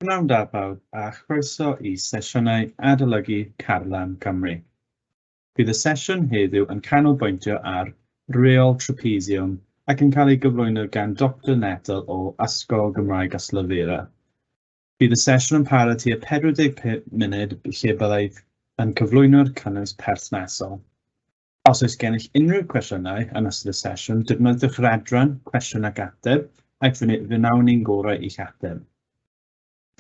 Pnawn da bawb a chroeso i sesiynau adolygu Carlam Cymru. Bydd y sesiwn heddiw yn canolbwyntio ar Reol Trapezium ac yn cael ei gyflwyno gan Doctor Nettle o Ysgol Gymraeg Ystalyfera. Bydd y sesiwn yn para tua 45 munud lle byddai yn cyflwyno'r cynnwys perthnasol. Os oes gennych unrhyw gwestiynau yn ystod y sesiwn, defnyddiwch yr adran Cwestiwn ac Ateb ac fe wnawn ni'n gorau i'ch ateb.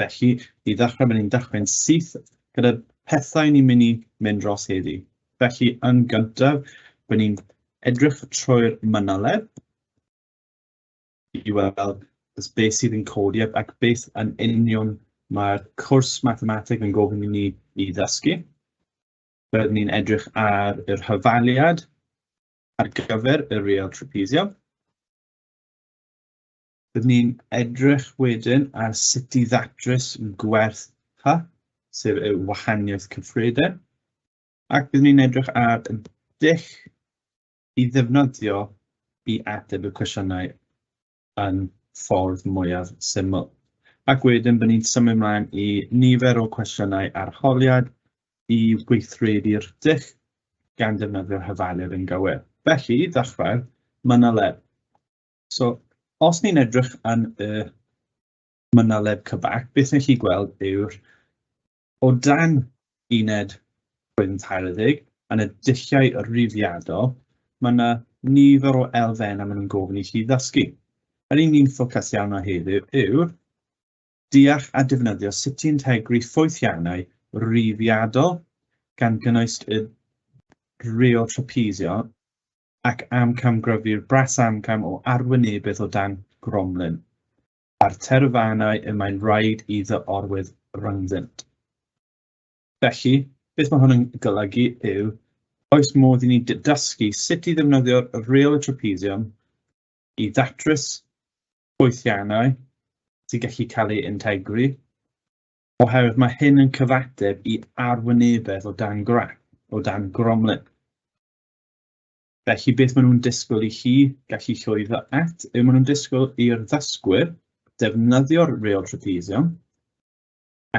Felly, i ddechrau, ni'n dechrau'n syth gyda pethau ni'n mynd i mynd dros heddi. Felly, yn gyntaf, byddwn ni'n edrych trwy'r mynoleb i weld beth sydd yn codi ac beth yn union mae'r cwrs mathemateg yn gofyn i ni i ddysgu. Rydyn ni'n edrych ar yr hafaliad ar gyfer y real trapezium. Rydyn ni'n edrych wedyn ar sut i ddatrys gwerth pa, sef y wahaniaeth cyffredin, ac rydyn ni'n edrych ar y dull i ddefnyddio i ateb y cwestiynau yn ffordd mwyaf syml. Ac wedyn bydd ni'n symud ymlaen i nifer o cwestiynau arholiad i weithredu'r dull gan defnyddio'r hyfalydd yn gywir. Felly, i ddechrau, mynaleb. So, os ni'n edrych yn y mynaleb cybac, beth ni'n chi gweld yw'r O dan uned Gwyn Taeryddeg, yn y dulliau rhifiadol, mae yna nifer o elfennau maen nhw'n gofyn i chi ddysgu. Yr un ni'n ffocus iawn o heddiw yw deall a defnyddio sut i integru ffwythiannau rhifiadol gan gynnwys y reo trapezio ac amcamgryfu'r bras amcam o arwynebedd o dan gromlin. a'r terfynau y mae'n rhaid i dy orwedd rhyngddynt. Felly, beth mae hwn yn golygu yw, oes modd i ni dysgu sut i ddefnyddio'r reol y trapesium i ddatrys gweithiannau sy'n gallu cael ei integru, oherwydd mae hyn yn cyfateb i arwynebedd o dan grap, o dan gromlin. Felly beth maen nhw'n disgwyl i chi gallu llwyddo at yw maen nhw'n disgwyl i'r ddysgwyr defnyddio'r reol trapezium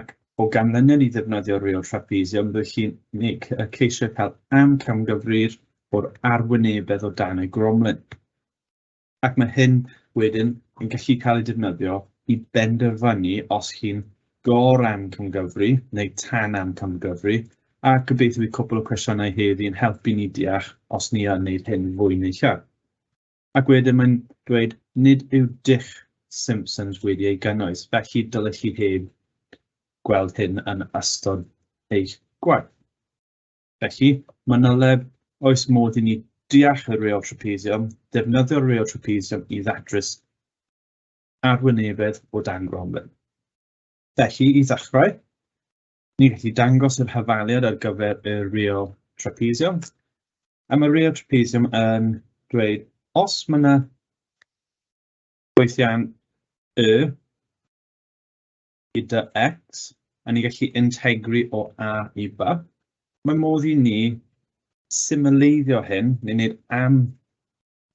ac o ganlyniad i ddefnyddio'r reol trapezium bydd chi'n wneud y ceisiau cael amcamgyfrif o'r arwynebedd o dan y gromlin. ac mae hyn wedyn yn gallu cael ei defnyddio i benderfynu os chi'n gor-amcangyfri neu tan-amcangyfri, a gobeithio bydd cwpl o cwestiynau heddi yn helpu ni deall os ni yn wneud hyn fwy neu llai. Ac wedyn mae'n dweud nid yw dull Simpsons wedi ei gynnwys, felly dylech chi heb gweld hyn yn ystod eich gwaith. Felly, manyleb, oes modd i ni deall y reol trapesium, defnyddio'r reol trapesium i ddatrys arwynebedd o dan gromlin. Felly, i ddechrau, ni'n gallu dangos yr hafaliad ar gyfer y reol trapesium. A mae reol trapesium yn dweud os mae yna gweithiau'n y gyda X, a ni'n gallu integru o A i B. Mae modd i ni symleiddio hyn, ni'n gwneud am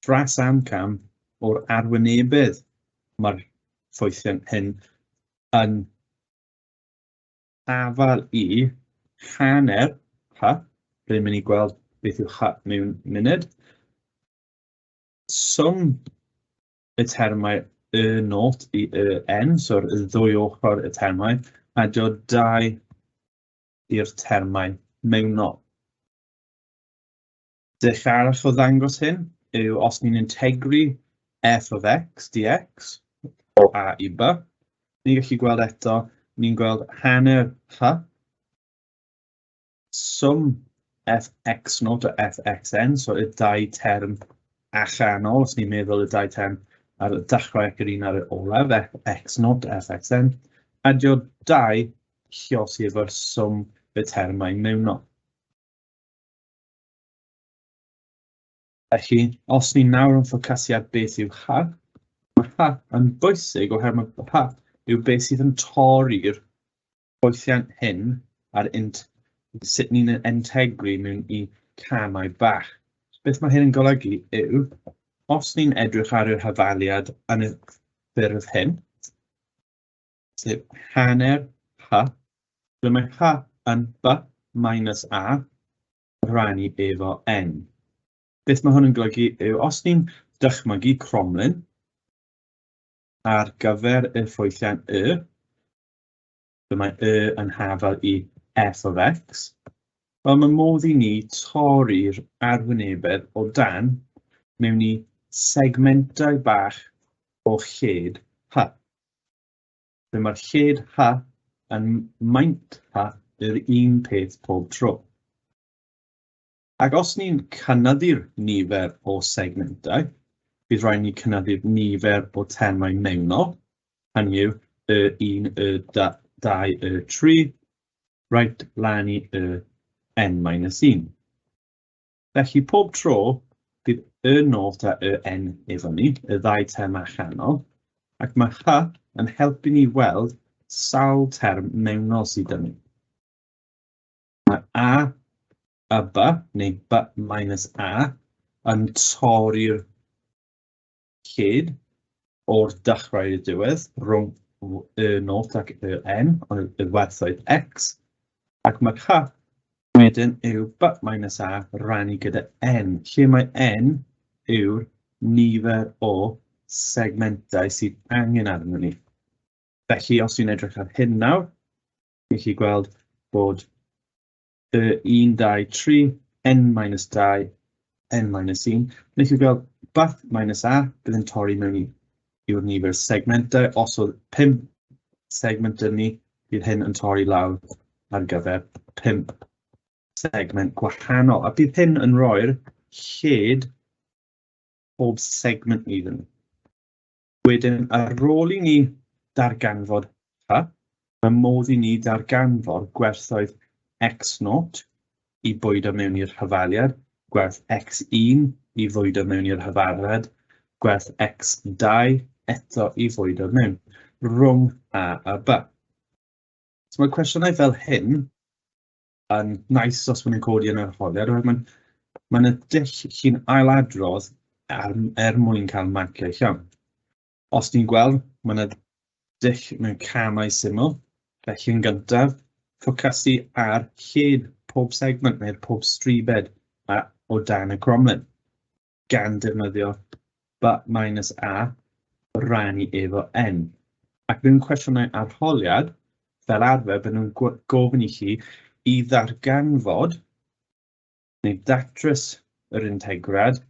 dras amcam o'r arwynebedd mae'r ffwythion hyn yn afal i hanner H, rydyn mynd i gweld beth yw H mewn munud, swm y termau y not i y n, so'r ddwy ochr y termau, a dio dau i'r termau mewnol. Dech arall o ddangos hyn yw os ni'n integru f of x dx o a i b, ni'n gallu gweld eto, ni'n gweld hanner h swm fx not a fxn, so y dau term allanol, os ni'n meddwl y dau term ar y dechrau ac yr un ar y olaf, fx not fxn, adio dau llos i efo'r swm y termau mewnol. Felly, os ni nawr yn ffocasu ar beth yw ha, mae ha yn bwysig oherwydd mae ha yw beth sydd yn torri'r ffwythiant hyn ar int, sut ni'n entegru mewn i camau bach. Beth mae hyn yn golygu yw, os ni'n edrych ar yr hafaliad yn y ffurf hyn, sef hanner h, ble mae h yn b minus a rannu efo n. Beth mae hwn yn golygu yw, os ni'n dychmygu cromlin ar gyfer y ffwythiant y, So mae y yn hafal i f of x. Wel, mae modd i ni torri'r arwynebedd o dan mewn i segmentau bach o lled h. Lle mae'r lled h yn maint h yr un peth pob tro. Ac os ni'n cynyddu'r nifer o segmentau, bydd rhaid ni cynyddu'r nifer o termau mewnol, hynny yw y 1, y 2, y 3, right lan i y n-1. Felly pob tro bydd y nod a y n efo ni, y ddau term allanol, ac mae hy yn helpu ni weld sawl term mewnol sydd yn ni. Mae a, a ba, neu ba minus a, yn torri'r cyd o'r dechrau i'r diwedd rhwng y not ac y n, ond y werthoedd x, ac mae ca wedyn yw ba minus a rannu gyda n, lle mae n yw'r nifer o segmentau sydd angen arno ni. Felly, os dwi'n edrych ar hyn nawr, Chi'n gallu gweld bod y 1, 2, 3, n minus 2, n minus 1. Neu chi'n gweld bath minus a, bydd yn torri mewn i'r nifer segmentau. Os oedd 5 segment yn ni, bydd hyn yn torri lawr ar gyfer 5 segment gwahanol. A bydd hyn yn rhoi'r lled pob segment iddyn nhw. Wedyn, ar ôl i ni darganfod pa, mae modd i ni darganfod gwerthoedd x0 i bwydo mewn i'r hyfaliad, gwerth x1 i fwydo mewn i'r hyfariad, gwerth x2 eto i fwydo mewn, rhwng a a b. So mae cwestiynau fel hyn yn nice os maen nhw'n codi yn yr arholiad, oherwydd mae'n mae'n y dull chi'n ailadrodd er, er mwyn cael marciau llawn. Os ni'n gweld, mae'n y dull mewn camau syml, felly yn gyntaf, ffocasu ar lled pob segment neu'r pob stribed a, o dan y cromlin. gan defnyddio but minus a rannu efo n. Ac mewn cwestiynau arholiad, fel arfer, bydden nhw'n gofyn i chi i ddarganfod neu ddatrys yr integrad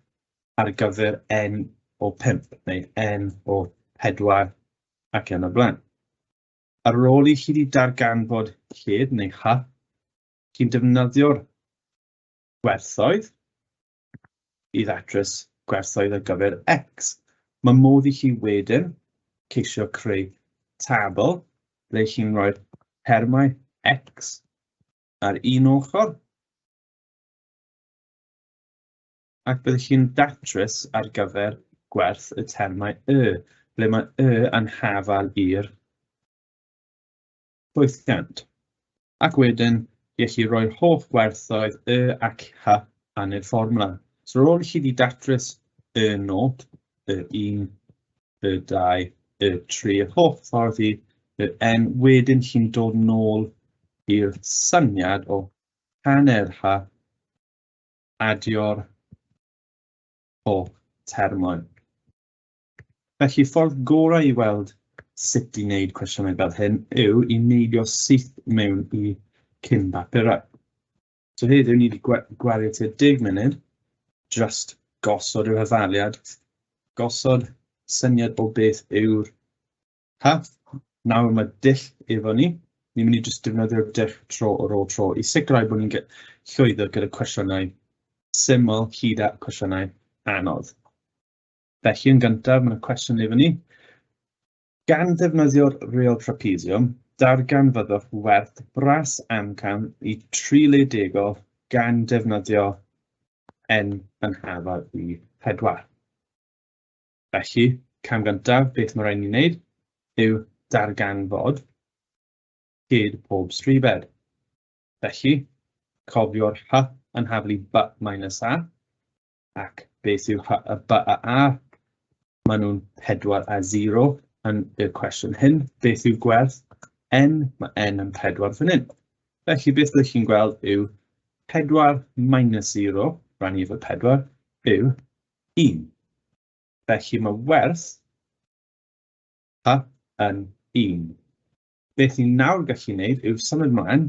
ar gyfer n o 5 neu n o 4 ac yn y blaen. Ar ôl i chi wedi darganfod lled neu hy, chi'n defnyddio'r gwerthoedd i ddatrys gwerthoedd ar gyfer X. Mae modd i chi wedyn ceisio creu tabl ble chi'n rhoi'r termau X ar un ochr ac byddwch chi'n datrys ar gyfer gwerth y termau Y, ble mae Y yn hafal i'r llwythiant, ac wedyn gellu rhoi'r holl werthoedd y ac ha yn y fformwla. So rôl chi di datrys y nod, y un, y dau, y tri, y holl ffordd i y n, wedyn chi'n dod nôl i'r syniad o hanner ha adio'r holl termau. Felly, ffordd gorau i weld sut i wneud cwestiynau fel hyn yw i neidio syth mewn i cyn bapurau. So heddiw ni wedi gwario tua 10 munud, just gosod yr hyfaliad, gosod syniad o beth yw'r path. Nawr mae dull efo ni, ni'n mynd i jyst defnyddio'r dull tro o ôl tro i sicrhau bod ni'n llwyddo gyda cwestiynau syml hyd at cwestiynau anodd. Felly, yn gyntaf, mae'n cwestiwn i fyny. Gan ddefnyddio'r reol trapezium, darganfyddwch werth bras amcan i tri le degol gan defnyddio n yn hafal i pedwar. Felly, cam gyntaf, beth mae rhaid ni'n wneud yw darganfod hyd pob stribed. Felly, cofio'r hy yn haflu b minus a, ac beth yw ha- y by a a? Maen nhw'n pedwar a zero yn y cwestiwn hyn. Beth yw gwerth n? Mae n yn pedwar fan hyn. Felly beth ydych chi'n gweld yw pedwar minus zero, rhan i fy pedwar, yw un. Felly mae werth pa yn un. Beth ni'n nawr gallu wneud yw symud mlaen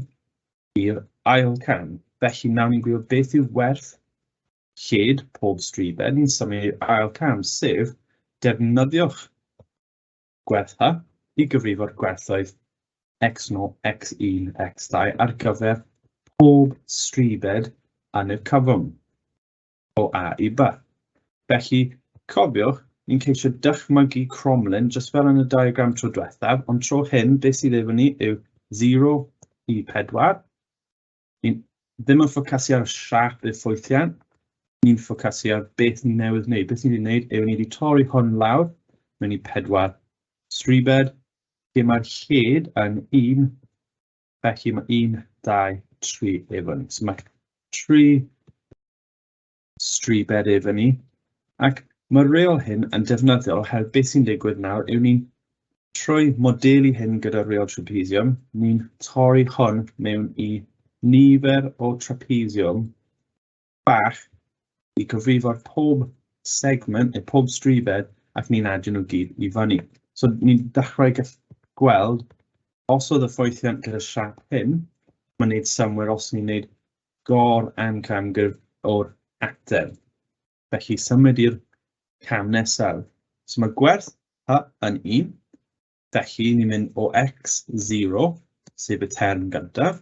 i'r ail cam. Felly nawr ni'n gwybod beth yw werth lled pob stribed, ni'n symud i'r ail cam, sef defnyddiwch gwerthfa i gyfrifo'r gwerthoedd x0, x1, x2 ar gyfer pob stribed yn y cyfwng. o A i B. Felly, cofiwch, ni'n ceisio dychmygu cromlin, jyst fel yn y diagram tro diwethaf, ond tro hyn, beth sydd efo ni yw 0 i 4. Ni'n ddim yn ffocasu ar y siap i'r ffwythiant, ni'n ffocasu ar beth ni newydd wneud. Beth ni wedi wneud yw ni wedi torri hwn lawr mewn i 4 stribed, lle mae'r lled yn 1 Felly mae 1, 2, 3 efo ni. So mae 3 stribed efo ni. Ac mae'r reol hyn yn defnyddiol oherwydd beth sy'n digwydd nawr yw ni'n trwy modelu hyn gyda'r reol trapezium, ni'n torri hwn mewn i nifer o trapezium bach i gyfrifo'r pob segment neu pob strifed ac ni'n adio nhw gyd i fyny. So ni'n dechrau gweld os oedd y ffwythiant gyda siap hyn, mae'n gwneud symwyr os ni'n gwneud gor am camgyrf o'r ateb. Felly symud i'r cam nesaf. So mae gwerth y yn 1, felly ni'n mynd o x0, sef y term gyntaf,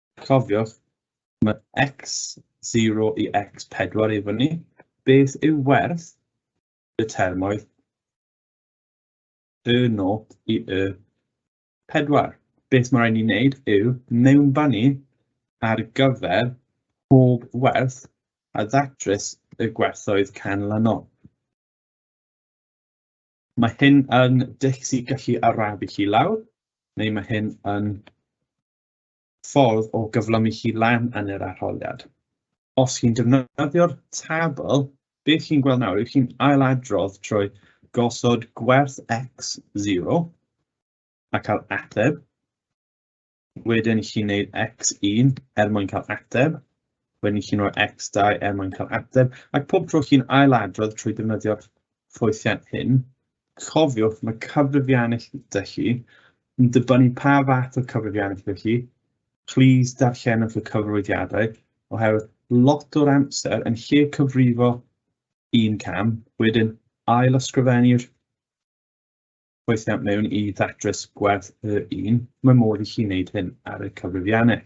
Cofiwch, mae x0 i x4 i fyny. Beth yw werth y termoedd y nod i y pedwar? Beth mae'n rhaid ni wneud yw mewnbanu ar gyfer pob werth a ddatrys y gwerthoedd canlynol. Mae hyn yn dych sy'n gallu arafu chi lawr, neu mae hyn yn ffordd o gyflymu hi lan yn yr arholiad. Os chi'n defnyddio'r tabl, beth chi'n gweld nawr yw chi'n ailadrodd trwy gosod gwerth x 0 a cael ateb. Wedyn chi'n gwneud x1 er mwyn cael ateb. Wedyn chi'n rhoi x2 er mwyn cael ateb. Ac pob tro chi'n ailadrodd trwy defnyddio'r ffwythiant hyn, Cofiwch, mae cyfrifiannell da chi yn dibynnu pa fath o cyfrifiannell da chi. Please darllenwch y cyfrifiadau, oherwydd lot o'r amser yn lle cyfrifo un cam, wedyn ail ysgrifennu'r gweithiant mewn i ddatrys gwerth y un, mae modd i chi wneud hyn ar y cyfrifiannell.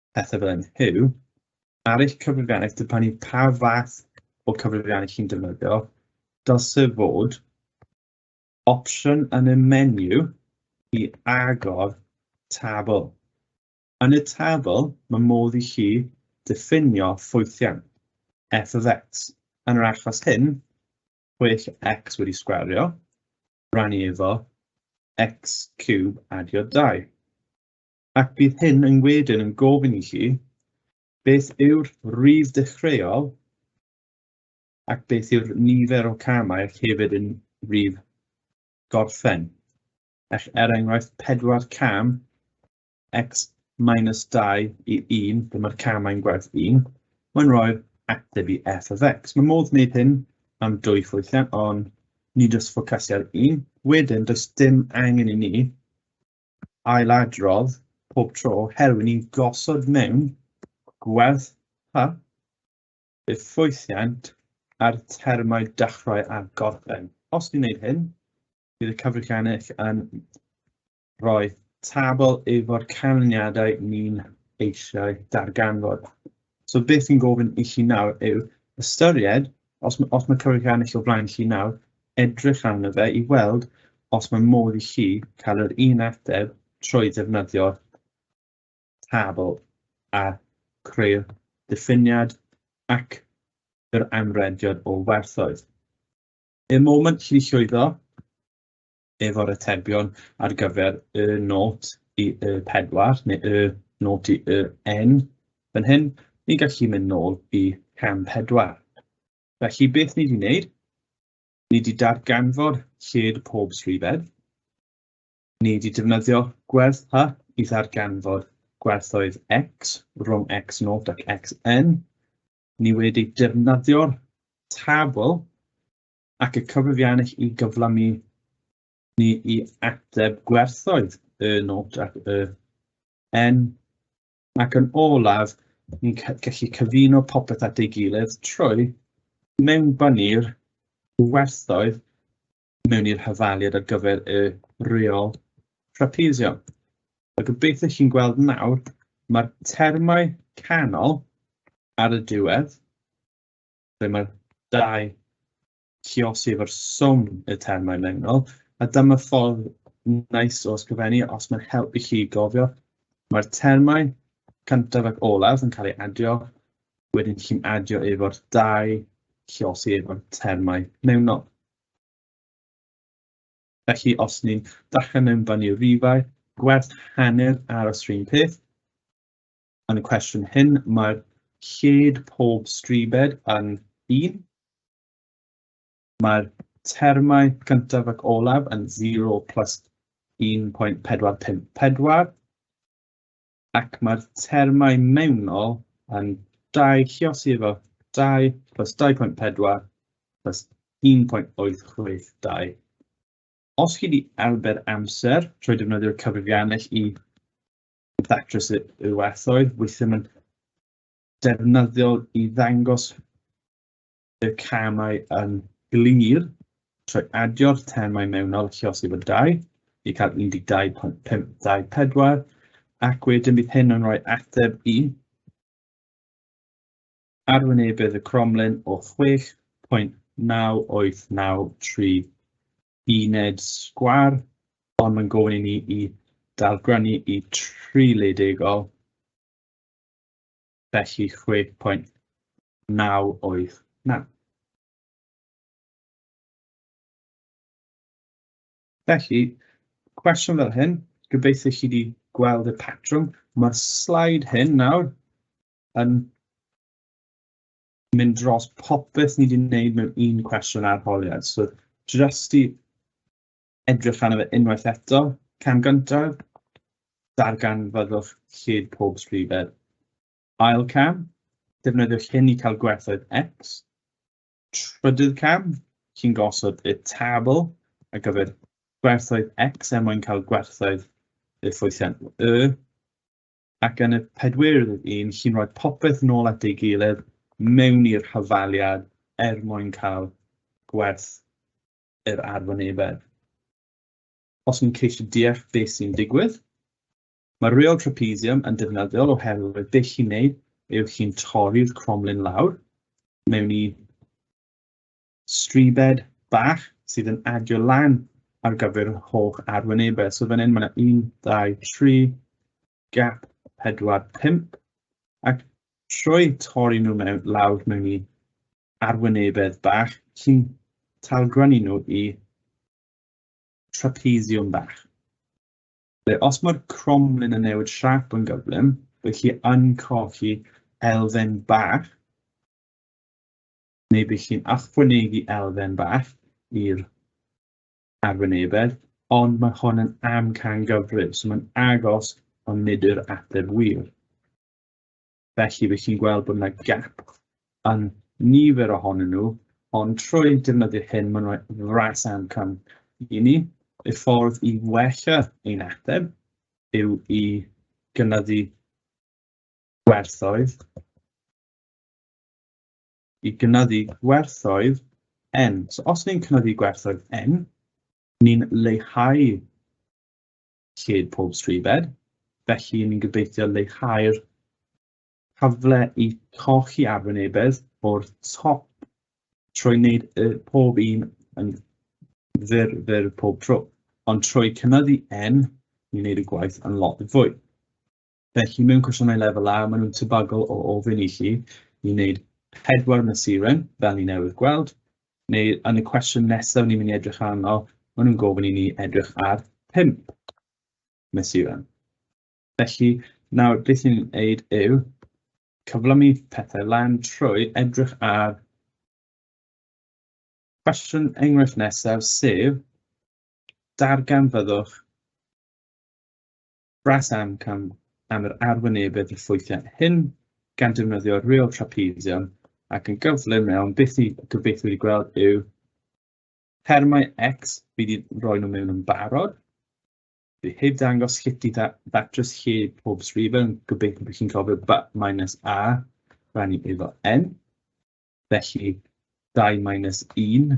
pethau fel hyn yw, ar eich cyfrifiannau, dibynnu pa fath o cyfrifiannau chi'n defnyddio, dylse fod opsiwn yn y menu i agor tabl. Yn y tabl, mae modd i chi diffinio ffwythiau, f of x. Yn yr achos hyn, pwyll x wedi sgwario, rannu efo x cube adio 2. Ac bydd hyn yn wedyn yn gofyn i chi beth yw'r rif dechreuol ac beth yw'r nifer o camau ac hefyd yn rif gorffen. Ac er enghraifft 4 cam x minus 2 i 1, dyma'r camau'n gwerth 1, mae'n rhoi'r ateb i f of x. Mae modd wneud hyn am dwy ffwythiant, ond nid oes ffocasiad un. Wedyn, does dim angen i ni ailadrodd pob tro oherwydd ni'n gosod mewn gwerth pa effwythiant ar termau dechrau a gorffen. Os ni'n gwneud hyn, bydd y cyfrifiannau yn rhoi tabl efo'r canlyniadau ni'n eisiau darganfod. So beth fi'n gofyn i chi nawr yw ystyried Os ma' os ma' Cymru wedi ennill o flaen chi nawr, edrych arno fe i weld os ma' modd i chi cael yr un ateb trwy ddefnyddio tabl a creu'r diffiniad ac yr amrediad o werthoedd. Y moment chi 'di llwyddo, efo'r atebion ar gyfer y nod i y pedwar neu y nod i y n fan hyn, ni'n gallu mynd nôl i cam pedwar. Felly beth ni wedi wneud, ni wedi darganfod lled pob swyddfed, ni wedi defnyddio gwerth hy i ddarganfod gwerthoedd x rhwng x0 ac xn, ni wedi defnyddio'r tabl ac y cyfrifiannell i gyflymu ni i ateb gwerthoedd y nod ac y N. Ac yn olaf, ni'n gallu cyfuno popeth at ei gilydd trwy mewnbynnu'r werthoedd mewn i'r hyfaliad ar gyfer y reol trapezio. A gobeithio chi'n gweld nawr, mae'r termau canol ar y diwedd lle mae'r dau ciosi efo'r swm y termau mewnol, a dyma ffordd nais o ysgrifennu os mae'n helpu chi gofio. Mae'r termau cyntaf ac olaf yn cael ei adio, wedyn chi'n adio efo'r dau ciosi efo'r termau mewnol. Felly, os ni'n dachan mewn fan i'r rifau, gwerth hanner aros rhywun peth, yn y cwestiwn hyn, mae'r lled pob stribed yn un. Mae'r termau cyntaf ac olaf yn 0 plus 1.454 ac mae'r termau mewnol yn 2 lliosi efo 2 plus 2.4 plus 1.862. Os chi wedi arbed amser trwy defnyddio'r cyfrifiannell i ddatrys y, y werthoedd, weithio mae'n defnyddiol i ddangos y camau yn glir trwy adio'r termau mewnol lle os yw dau i cael 12.524 ac wedyn bydd hyn yn rhoi ateb i arwynebedd y cromlin o 6.9893 uned sgwar, ond mae'n gofyn i ni i dalgrynnu i tri ledigol, felly 6.989. Felly, cwestiwn fel hyn, gobeithio chi wedi gweld y patrwm. Mae'r slaid hyn nawr yn mynd dros popeth ni wedi wneud mewn un cwestiwn arholiad. So, jyst i edrych arno fe unwaith eto, cam gyntaf, dargan fyddwch lled pob sgrifed. Ail cam, defnyddiwch hyn i cael gwerthoedd X. Trydydd cam, chi'n gosod y tabl ar gyfer gwerthoedd X er mwyn cael gwerthoedd y ffwythiant Y. ac yn y pedwerydd un chi'n rhoi popeth nôl at ei gilydd mewn i'r hyfaliad er mwyn cael gwerth yr arwynebedd. Os ni'n ceisio deall beth sy'n digwydd, mae'r reol trapezium yn defnyddiol oherwydd beth chi'n neud yw chi'n torri'r cromlin lawr mewn i stribed bach sydd yn adio lan ar gyfer yr holl arwynebau. So fan hyn mae yna 1, 2, 3, gap 4, 5 ac trwy torri nhw mewn lawr mewn i arwynebedd bach sy'n talgranu nhw i trapeziwm bach. Ble os mae'r cromlin yn newid siap yn gyflym, bydd chi yn colli elfen bach neu bydd chi'n achwynegu elfen bach i'r arwynebedd, ond mae hon yn amcangyfrif, so mae'n agos ond nid yw'r ateb wir. Felly bydd chi'n gweld bod yna gap yn nifer ohonyn nhw, ond trwy defnyddio hyn mae'n rhoi fras amcan i ni. Y ffordd i wella ein ateb yw i gynyddu gwerthoedd i gynyddu gwerthoedd N. So os ni'n cynyddu gwerthoedd N, ni'n leihau lled pob stribed, felly ni'n gobeithio leihau'r cyfle i colli arwynebedd o'r top trwy wneud y pob un yn fyr, fyr pob tro. Ond trwy cynyddu N, ni'n gwneud y gwaith yn lot fwy. Felly, mewn cwestiynau lefel A, maen nhw'n tebygol o ofyn i chi i wneud pedwar mesuren, fel ni newydd gweld, neu yn y cwestiwn nesaf ni'n mynd i edrych arno, maen nhw'n gofyn i ni edrych ar pump mesuren. Felly, nawr beth ni'n neud yw cyflymu pethau lan trwy edrych ar Cwestiwn enghraifft nesaf sef darganfyddwch Brass amcan am yr arwynebedd effwythiau hyn gan defnyddio real trapezium ac yn gyflym iawn beth i gobeithio wedi gweld yw termau X fi wedi rhoi nhw mewn yn barod. Fi heb dangos sut i ddatrys lle pob srifau yn gobeithio bod chi'n cofio ba minus A rhan i efo N. Felly 2 minus 1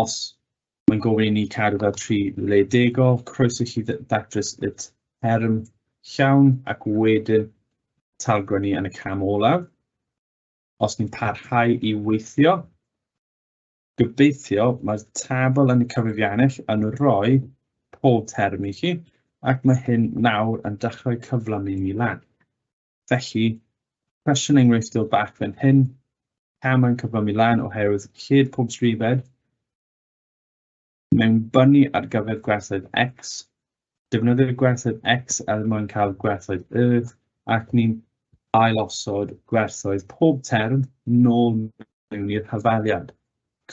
os mae'n gofyn i ni cadw fel tri le degol, croeso chi ddatrys y term llawn ac wedyn talgrennu yn y cam olaf. Os ni'n parhau i weithio, gobeithio mae'r tabl yn y cyfrifiannell yn rhoi pob term i chi ac mae hyn nawr yn dechrau cyflamu ni lan. Felly, cwestiwn enghreifftiol bach fan hyn, pam mae'n cyflymu lan oherwydd lled pob trifed mewn bynu ar gyfer gwerthoedd x, defnyddio'r gwerthoedd x er mwyn cael gwerthoedd y, ac ni'n ailosod gwerthoedd pob term nôl mewn i'r hyfaliad.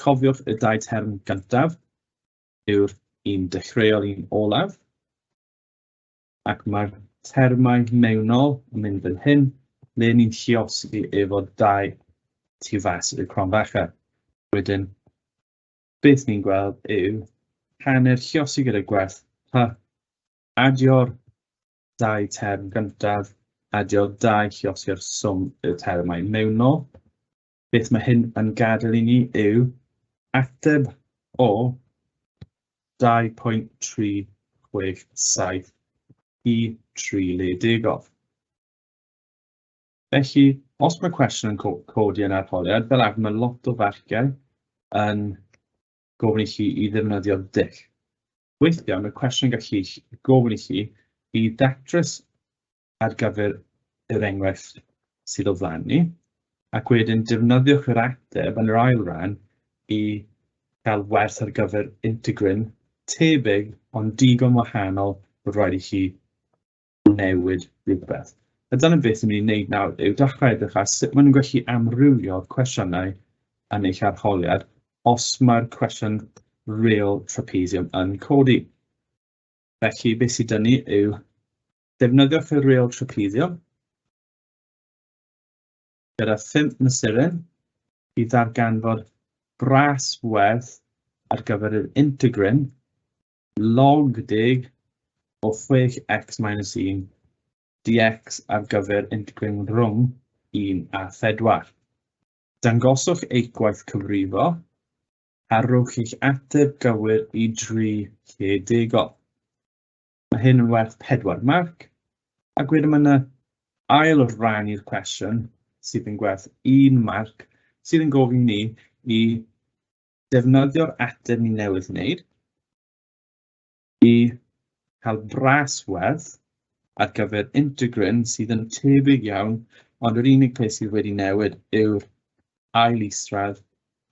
Cofiwch y dau term gyntaf yw'r un dechreuol i'n olaf, ac mae'r termau mewnol yn mynd fel hyn, le ni'n lliosi efo dau tu fas i'r cronfacha. Wedyn, beth ni'n gweld yw hanner lliosi gyda gwerth pa adio'r dau term gyntaf, adio'r dau lliosi'r swm y termau mewnol, beth mae hyn yn gadael i ni yw ateb o 2.367 i 3 le degol. Felly, os mae cwestiwn yn codi yn arholiad, fel arfer mae lot o farciau yn gofyn i chi i ddefnyddio dull. Weithiau mae cwestiwn yn gallu gofyn i chi i ddatrys ar gyfer yr enghraifft sydd o flaen ni, ac wedyn defnyddiwch yr ateb yn yr ail ran i gael werth ar gyfer integrin tebyg ond digon wahanol bod rhaid i chi newid rhywbeth. A dyna beth ni'n mynd i wneud nawr yw dechrau edrych ar sut maen nhw'n gallu amrywio'r cwestiynau yn eich arholiad os mae'r cwestiwn real trapezium yn codi. Felly, beth sydd dyn ni yw Defnyddiwch y ril trapiddio gyda phump mesuren i ddarganfod bras werth ar gyfer yr integrin log deg o 6x minus 1 dx ar gyfer integrin rhwng 1 a 4. Dangoswch eich gwaith cyfrifo a rhowch eich ateb gywir i dri lle degol. Mae hyn yn werth pedwar marc. Ac wedyn mae yna ail ran i'r cwestiwn sydd yn gwerth un marc sydd yn gofyn ni i defnyddio'r ateb ni newydd wneud i cael bras werth ar gyfer integryn sydd yn tebyg iawn, ond yr unig peth sydd wedi newid yw'r ail isradd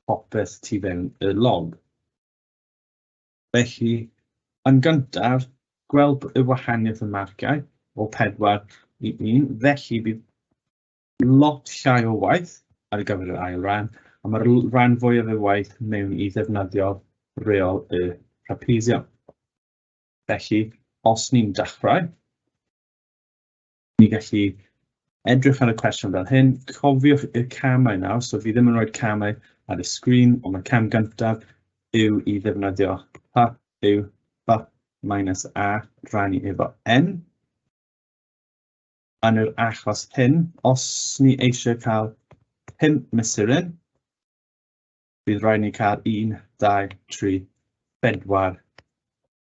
popeth tu fewn y log. Felly, yn gyntaf, gweld y wahaniaeth y marciau o 4 i 1, felly bydd lot llai o waith ar gyfer yr ail ran, a mae'r rhan fwyaf o'r waith mewn i ddefnyddio reol y trapezium. Felly, os ni'n dechrau, Ni gallu edrych ar y cwestiwn fel hyn. Cofiwch y camau nawr, so fi ddim yn rhoi camau ar y sgrin, ond mae cam gyntaf yw i ddefnyddio pa yw pa minus a rannu efo n. Yn yr achos hyn, os ni eisiau cael 5 mesuryn, bydd rhaid ni cael 1, 2, 3, 4,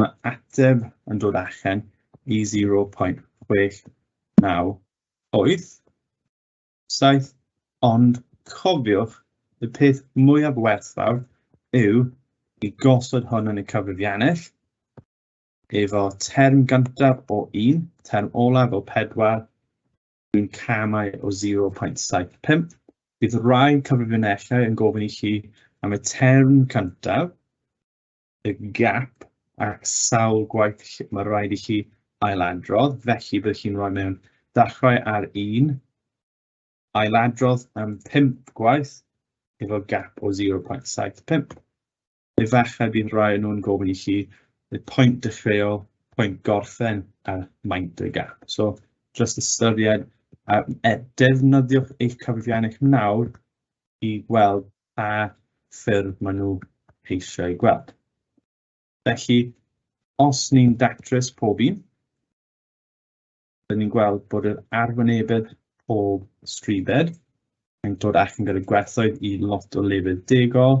Mae ateb yn dod allan i 0.698 saith, ond cofiwch y peth mwyaf werthfawr yw i gosod hwn yn y cyfrifiannell efo term gyntaf o 1, term olaf o 4, dwi'n camau o 0.75. Bydd rhai cyfrifiannellau yn gofyn i chi am y term cyntaf y gap ac sawl gwaith lle mae rhaid i chi ailadrodd, felly bydd chi'n rhoi mewn dachrau ar un, ailadrodd am 5 gwaith efo gap o 0.75. Efallai bydd rhai yn nhw'n gofyn i chi y pwynt dechreuol, pwynt gorffen a maint y gap. So, just ystyried a e, defnyddiwch eich cyfrifiannau nawr i gweld pa ffyrdd maen nhw eisiau eu gweld. Felly, os ni'n datrys pob un, rydyn ni'n gweld bod yr arwynebedd pob stribed yn dod allan gyda gwerthoedd i lot o lefydd degol,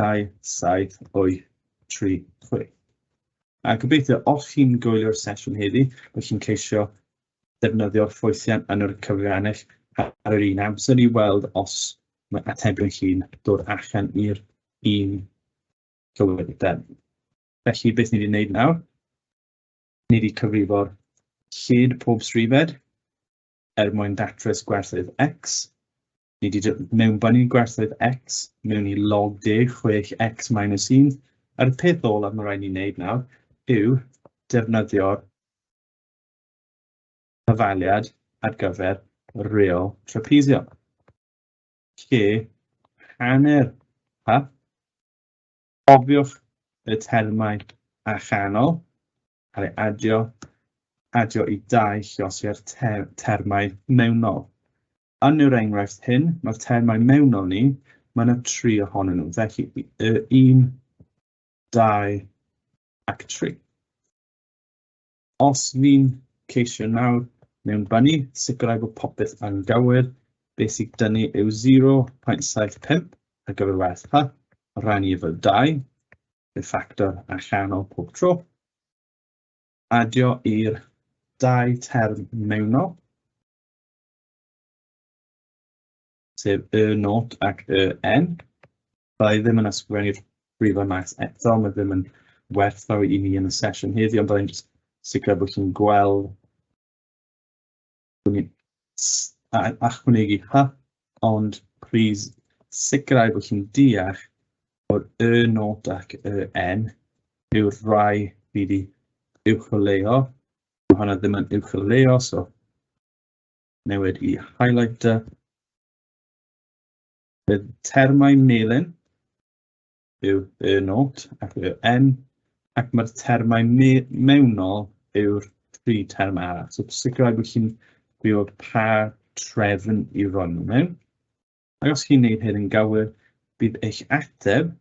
2, 7, 8, 3, 6. A gobeithio, os chi'n gwylio'r sesiwn heddi, bod chi'n ceisio defnyddio'r ffwythiant yn yr cyfrannau ar yr un amser i weld os mae atebion chi'n dod allan i'r un cywirdeb. Felly, beth ni wedi wneud nawr? Ni wedi cyfrifo'r lled pob srifed er mwyn datrys gwerthydd X, Ni wedi mewnbynnu gwerthoedd x mewn i log deg chwech x minus 1, a'r peth olaf mae rhaid ni wneud nawr yw defnyddio'r cyfaliad ar gyfer reol trapezio, lle hanner pa, cofiwch y termau a chanol, cael ei adio, adio i dau llosiau'r termau mewnol. Yn yr enghraifft hyn, mae'r termau mewnol ni, mae yna tri ohonyn nhw, felly y un, dau ac tri. Os fi'n ceisio nawr mewn bynnu, sicrhau bod popeth yn gywir, beth sy'n dynnu yw 0.75 ar gyfer werth pa, rannu efo 2, y ffactor allanol pob tro, adio i'r dau term mewnol, sef y not ac y n. Da i ddim yn ysgrifennu'r brifau maes eto, mae ddim yn werthfawr i ni yn y sesiwn heddiw, ond da i'n sicr bod chi'n gweld achwanegu hy, ond please sicrhau bod chi'n deall bod y not ac y n yw'r rhai fi wedi uwcholeuo. Mae hwnna ddim yn uwcholeuo, so newid i highlighter. Bydd termau melyn yw y not ac yw n, ac mae'r termau me mewnol yw'r tri term arall. So sicrhau bod chi'n gwybod pa trefn i roi nhw mewn. Ac os chi'n gwneud hyn yn gywir, bydd eich ateb,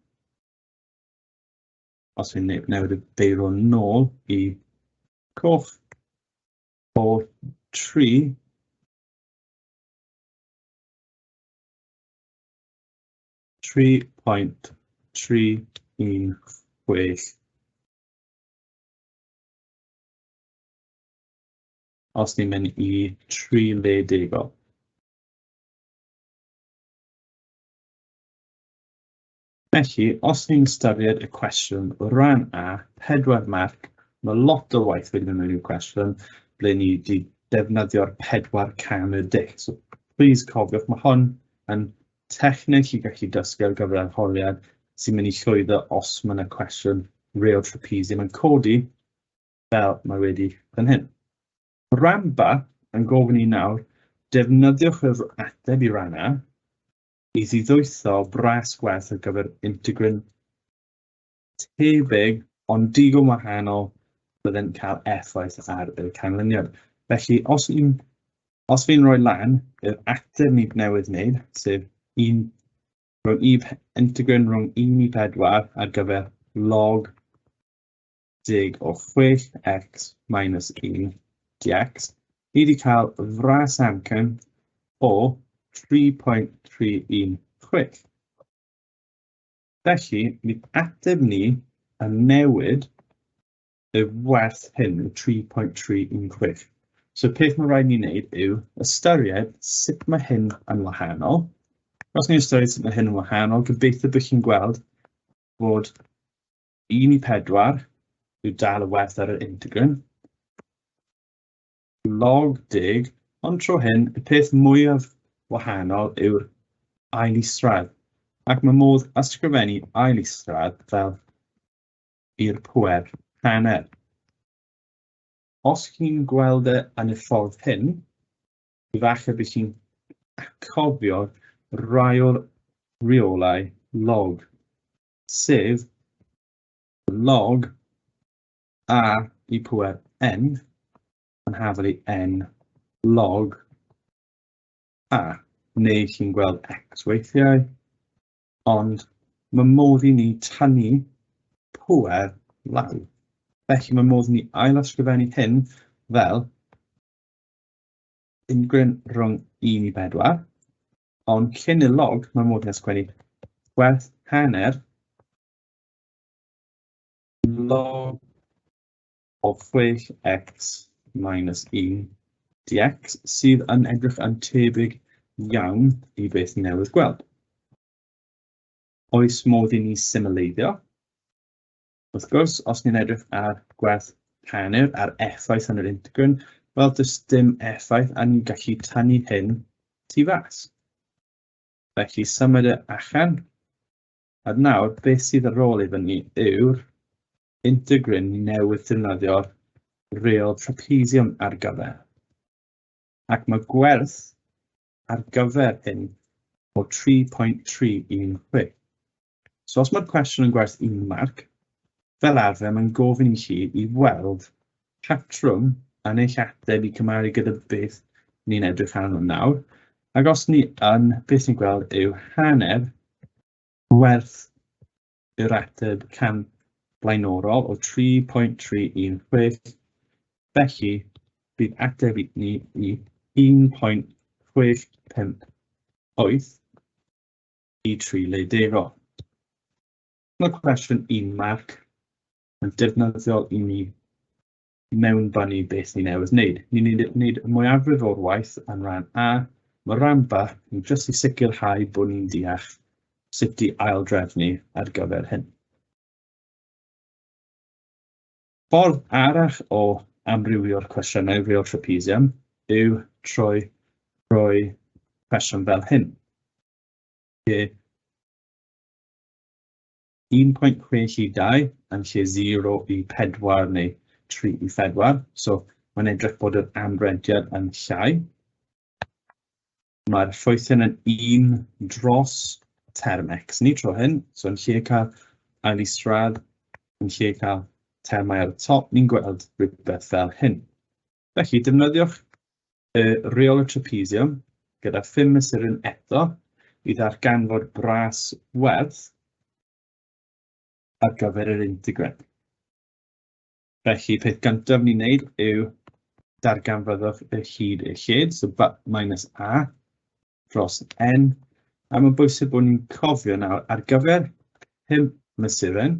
os fi'n newid y beiro nôl i coch, o tri tri pwynt tri un chwech. Os ni'n mynd i tri le degol. Felly, os ni'n ystyried y cwestiwn o ran A, pedwar marc, mae lot o waith wedi mynd i'w cwestiwn ble ni wedi defnyddio'r pedwar can y dic. So, please cofiwch, mae hon yn techneg i gallu dysgu ar gyfer arholiad sy'n mynd i llwyddo os mae yna cwestiwn real trapezium yn codi fel mae wedi fan hyn. Ramba yn gofyn i nawr, defnyddiwch yr ateb i ran A, i ddiddwytho bres gwerth ar gyfer integrin tebyg ond digon wahanol byddai'n cael effaith ar y canlyniad. Felly, os fi'n os fi'n rhoi lan yr ateb ni newydd wneud, sef un rhwng i integrin rhwng 1 i 4 ar gyfer log deg o 6x minus 1 dx, ni wedi cael fras amcan o 3.316. Felly, mi ateb ni yn newid y werth hyn yn 3.316. So peth mae'n rhaid ni wneud yw ystyried sut mae hyn yn wahanol. Os ni'n ystyried sut mae hyn yn wahanol, gobeithio bod chi'n gweld bod 1 i 4 yw dal y werth ar yr integrin. Log deg, ond tro hyn, y peth mwyaf wahanol yw'r ail isradd, ac mae modd ysgrifennu ail isradd fel i'r pwer hanner. Os chi'n gweld e yn y ffordd hyn, efallai bydd chi'n cofio raiol reolau log sef log a i pwer n yn hafel i n log a, neu chi'n gweld x weithiau, ond mae modd i ni tanu pwer law. Felly mae modd i ni ail ysgrifennu hyn fel ungryn rhwng 1 i 4, Ond llun y log, mae modd ysgwennu gwerth hanner log o 6x minus 1 dx sydd yn edrych yn tebyg iawn i beth ni newydd gweld. Oes modd i ni symleiddio? Wrth gwrs, os ni'n edrych ar gwerth rhannur a'r effaith yn yr integrin, wel, does dim effaith a ni'n gallu tannu hyn tu fas. Felly, symud y allan. A nawr, beth sydd ar ôl i fyny yw'r integrin newydd defnyddio'r real trapezium ar gyfer. Ac mae gwerth ar gyfer hyn o 3.316. So os mae'r cwestiwn yn gwerth un marc, fel arfer mae'n gofyn i chi i weld patrwm yn eich ateb i cymharu gyda beth ni'n edrych arno nawr, ac os ni yn, beth ni'n gweld yw hanner gwerth yr ateb can blaenorol o 3.316, felly bydd ateb i ni i 1.658 i tri le dego. Mae cwestiwn un marc yn defnyddiol i ni mewn bannu beth ni newydd wneud. Ni'n wneud y mwyafrif o'r waith yn rhan A, mae rhan B yn jyst i sicrhau bod ni'n deall sut i aildrefnu ar gyfer hyn. Ffordd arall o amrywio'r cwestiynau real trapezium yw trwy rhoi cwestiwn fel hyn. lle 1.6 i 2 yn lle 0 i 4 neu 3 i 4. So mae'n edrych bod yr anrhediad yn llai. Mae'r ffwythen yn un dros term x ni tro hyn. So yn lle cael ail i sradd, yn lle cael termau ar y top, ni'n gweld rhywbeth fel hyn. Felly, defnyddiwch y rheolau trapesiwm gyda phum mesuryn eto i ddarganfod bras werth ar gyfer yr integren. Felly, peth gyntaf ni'n neud yw darganfyddwch y hyd y lled, so bat minus a dros n, a mae'n bwysig bod ni'n cofio nawr ar gyfer hyn mesuryn,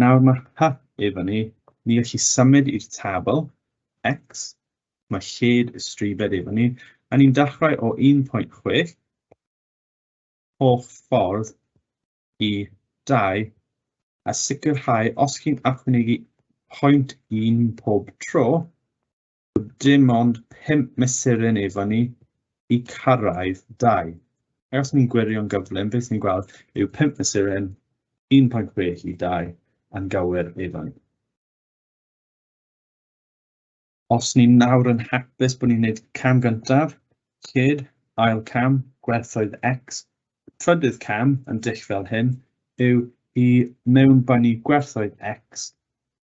Nawr mae'r path i fyny, ni elli symud i'r tabl, X, mae lled y stribed i fyny, a ni'n dechrau o 1.6 holl ffordd i 2 a sicrhau os chi'n achwynegu pwynt un pob tro, dim ond 5 mesuryn efo ni i cyrraedd 2. Ac os ni'n gwirio'n gyflym, beth ni'n gweld yw 5 mesuryn, 1.6 i 2 yn gywir efo ni. Os ni'n nawr yn hapus bod ni'n gwneud cam gyntaf, cyd, ail cam, gwerthoedd X, trydydd cam yn dull fel hyn yw i mewnbynnu gwerthoedd X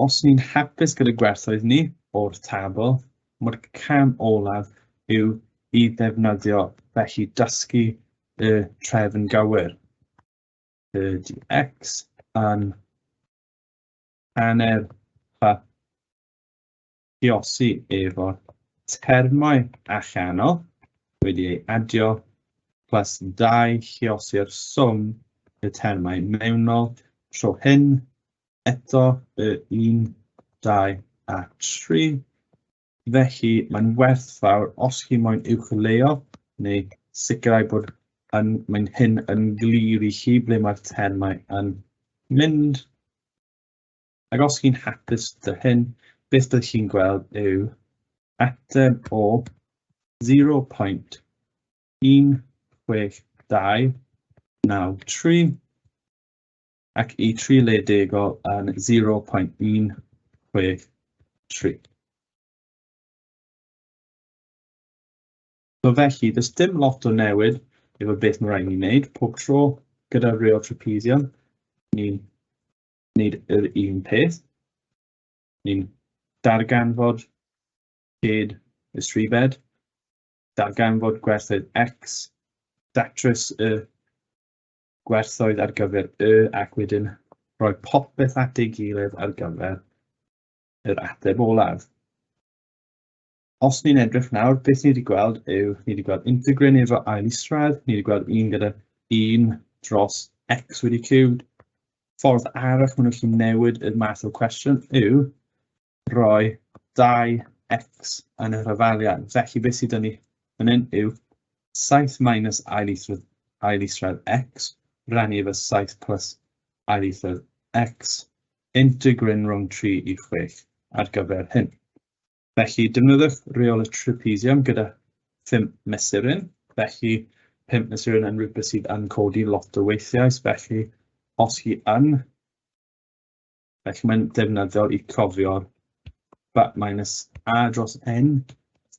Os ni'n hapus gyda gwerthoedd ni o'r tabl, mae'r cam olaf yw i ddefnyddio felly dysgu y trefn gywir. Ydy X yn hanner fa galluosi efo termau allanol wedi ei adio plus 2 lliosi'r swm y termau mewnol tro hyn eto y 1, 2 a 3. Felly mae'n werthfawr os chi moyn uwchleuo neu sicrhau bod yn, mae'n hyn yn glir i chi ble mae'r termau yn mynd. Ac os chi'n hapus dy hyn, beth dych chi'n gweld yw ateb o 0.16293 ac i tri le degol yn 0.163. So felly, does dim lot o newid efo beth mae rhaid ni wneud pob tro gyda real trapezium. Ni'n wneud yr un peth. Ni'n darganfod lled y srifed, darganfod gwerthoedd X, datrys y gwerthoedd ar gyfer Y ac wedyn rhoi popeth at ei gilydd ar gyfer yr ateb olaf. os ni'n edrych nawr, beth ni wedi gweld yw, ni wedi gweld integrin efo ail isradd, ni wedi gweld un gyda un dros x wedi cubed. Ffordd arall maen nhw'n gallu newid y math o cwestiwn yw roi 2x yn y rhyfaliad. Felly beth sydd dyn ni fan hyn yw 7 minus ail isradd, ail isradd x rannu efo 7 plus ail isradd x integrin rhwng 3 i 6 ar gyfer hyn. Felly, defnyddiwch reol y trapezium gyda 5 mesuryn. Felly, 5 mesuryn yn rhywbeth sydd yn codi lot o weithiau, felly os hi yn, felly mae'n defnyddiol i cofio'r bat minus a dros n.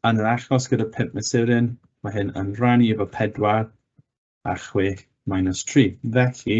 Yn yr achos gyda 5 mesuryn, mae hyn yn rhannu efo 4 a 6 minus 3. Felly,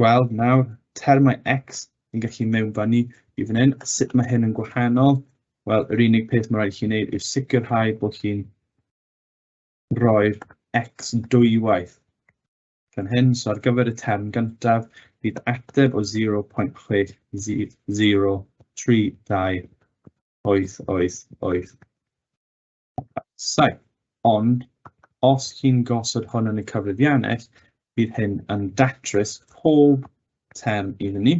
gweld nawr termau X yn gallu mewnfannu i fan hyn. Sut mae hyn yn gwahanol? Wel, yr unig peth mae rhaid i chi wneud yw sicrhau bod chi'n roi'r X dwywaith. Gan hyn, so ar gyfer y term gyntaf, bydd ateb o 0.603288. Saith. Ond os chi'n gosod hwn yn y cyfrifiannell, bydd hyn yn datrys pob term iddyn ni.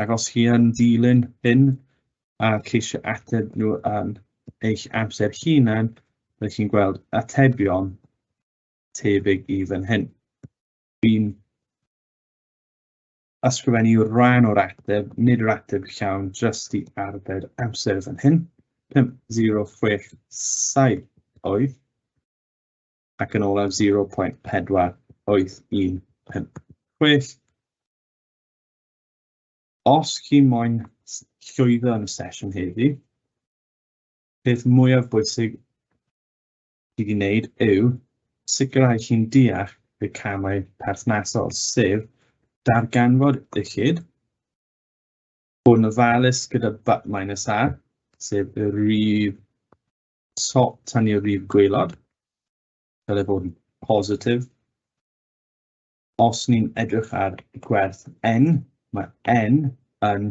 Ac os chi yn dilyn hyn a ceisio ateb nhw yn eich amser hunan, byddwch chi'n gweld atebion tebyg i fan hyn. Fi'n Ysgrifennu yw'r rhan o'r ateb, nid yr ateb llawn, jyst i arbed amser fan hyn. 5.067 oedd ac yn olaf 0.4815. Os chi moyn llwyddo yn y sesiwn heddi, peth mwyaf bwysig sydd i wneud yw sicrhau chi'n deall y camau perthnasol, sef darganfod uchyd, bod yn ofalus gyda but minus a, sef y rif top tan i'r rif gweilod, fel ei bod yn positif, os ni'n edrych ar gwerth n, mae n yn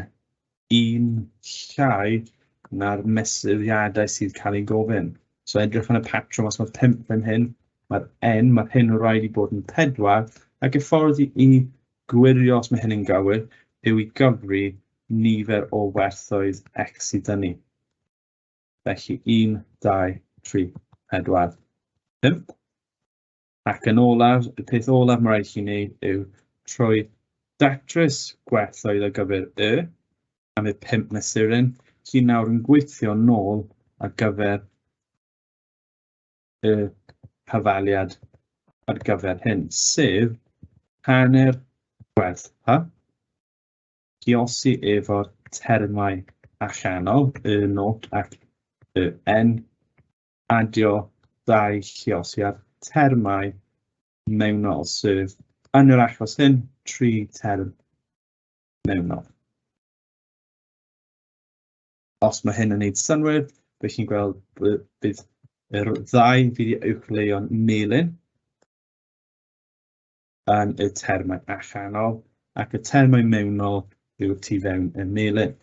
un llai na'r mesuriadau sydd cael ei gofyn. So edrych yn y patrwm, os mae 5 fan hyn, mae'r n, mae'r hyn o rhaid i bod yn 4, ac y ffordd i, i gwirio os mae hyn yn gywir yw i gyfri nifer o werthoedd x sydd dyn ni. Felly 1, 2, 3, 4, 5. Ac yn olaf, y peth olaf mae rhaid chi wneud yw trwy datrys gwerthoedd ar gyfer y am y pimp mesuryn, sy'n nawr yn gweithio nôl ar gyfer y hafaliad ar gyfer hyn, sef hanner gwerth pa, giosi efo'r termau allanol, y not ac y n, adio dau lluosiad termau mewnol, sef yn yr achos hyn, tri term mewnol. Os mae hyn yn gwneud synwyr, bydd chi'n gweld bydd yr ddau fydd i uwchleio'n melyn yn y termau allanol ac y termau mewnol yw'r tu fewn y melyn.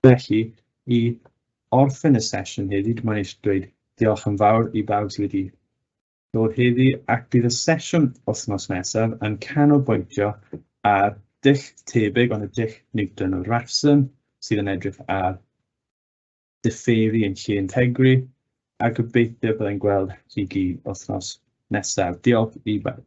Felly, i orffen y sesiwn heddi, dwi moyn eisiau dweud diolch yn fawr i bawb sydd wedi dod heddi ac bydd y sesiwn wythnos nesaf yn canolbwyntio ar dull tebyg ond y dull Newton o Rafson sydd yn edrych ar diffeiri yn lle integri a gobeithio byddai'n gweld chi gyd wythnos nesaf. Diolch i bawb.